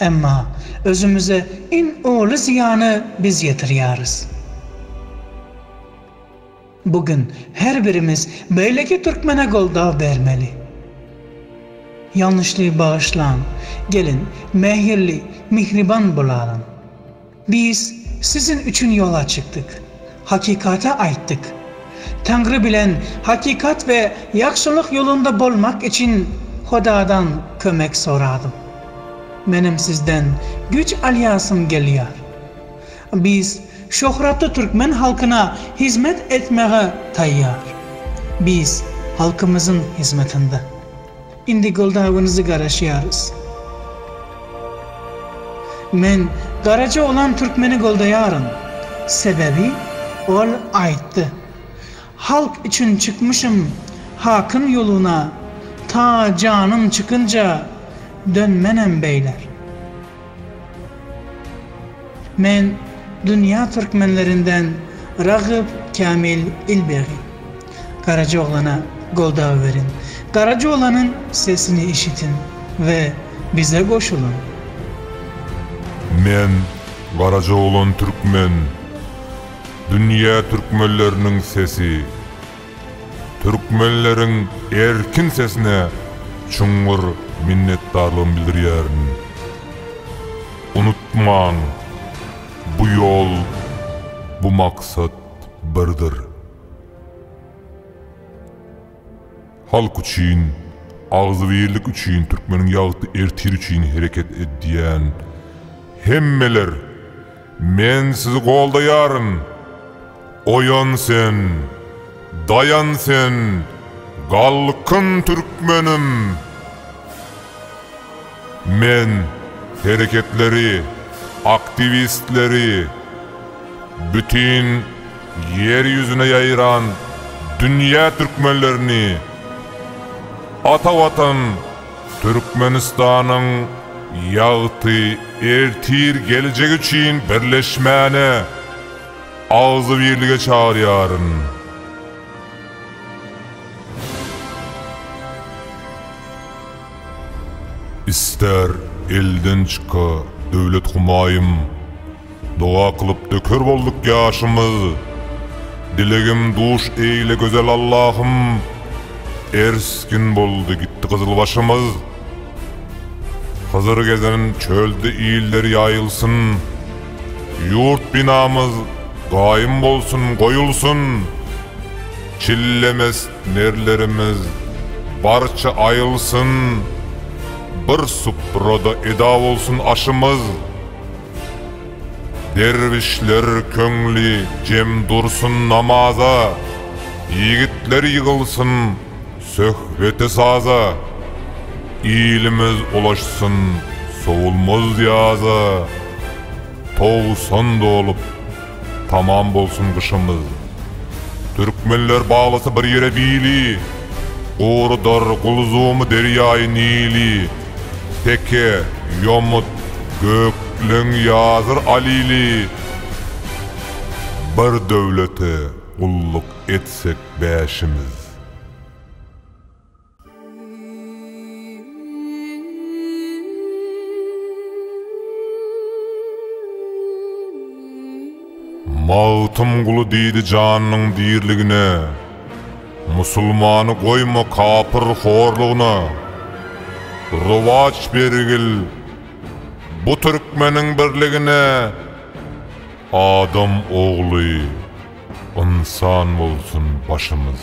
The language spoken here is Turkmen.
Emma özümize iň uly zyýany biz ýetirýäris. Bu gün her birimiz beýleki türkmene goldaw bermeli. Ýalňyşlygy bagyşlaň, geliň, mähirli, mihriban bolalyň. Biz sizin üçin ýola çykdyk, hakykata aýtdyk. Taňry bilen hakykat we ýagşylyk ýolunda bolmak üçin Hudadan kömek soradym. Menem sizden güýç alýasym gelýär. Biz şöhratly türkmen halkyna hyzmat etmäge taýýar. Biz halkymyzyň hyzmatynda. Indi goldawyňyzy garaşýarys. Men garaja oglan türkmeni goldaýaryn. Sebebi ol aýtdy. Halk üçin çykmyşym hakym ýoluna ta janym çykynja dönmenem beýler. Men dünýä türkmenlerinden Ragyp Kämil Ilbegi. Garaja oglana goldaw beriň. Garaja oglanyň sesini eşitiň we bize goşulyň. Men Garaja oglan türkmen. Dünýä türkmenleriniň sesi. Türkmenleriň erkin sesine çuňňur minnetdarlygymy bildirýärin. Unutmaň, bu ýol, bu maksat birdir. Halk üçin, agzybirlik üçin, türkmeniň ýagty ertiri üçin hereket edýän hemmeler! Men sizi goldaýaryn! Oýan sen! Daýan sen! Galkyn türkmenim! Men hereketleri, aktiwistleri, bütin Ýer ýüzüne ýaýran dünýä türkmenlerini Ata Watan! Türkmenistanyň ýagty ertir geljegi üçin birleşmäne agzybirlige çagyrýaryn. Ister elden çyka döwlet humaýym. Doga kylyp döker bolduk ýaşymyz. Dilegim duş eýle gözel Allahym. Ersgin boldy gitdi gyzyl başymyz. Hyzyr gezen çölde iller ýaýylsyn. Ýurt binamyz gaýym bolsun goýulsyn. Çillemes nerlerimiz barça aýylsyn. Bir suprada eda bolsun aşymyz. Derwüşler köňli jem dursun namaza, Ýigitler ýygylsyn söhbete saza, Ilimiz ulaşsyn sowulmaz ýaza, Togsan dolup, Tamam bolsun gyşymyz. Türkmenler baglasa bir ýere bili, Gorudar gulzumy derýaýy Nili. Teke, ýomut, gökleň ýazyr alili, Bir döwlete gulluk etsek bäşimiz. Magtymguly diýdi janynyň dirligine, Musulmany goýma kapyr horlugyna. Rowaç bergil bu türkmeniň birligine, Adam ogly, ynsan bolsun başymyz.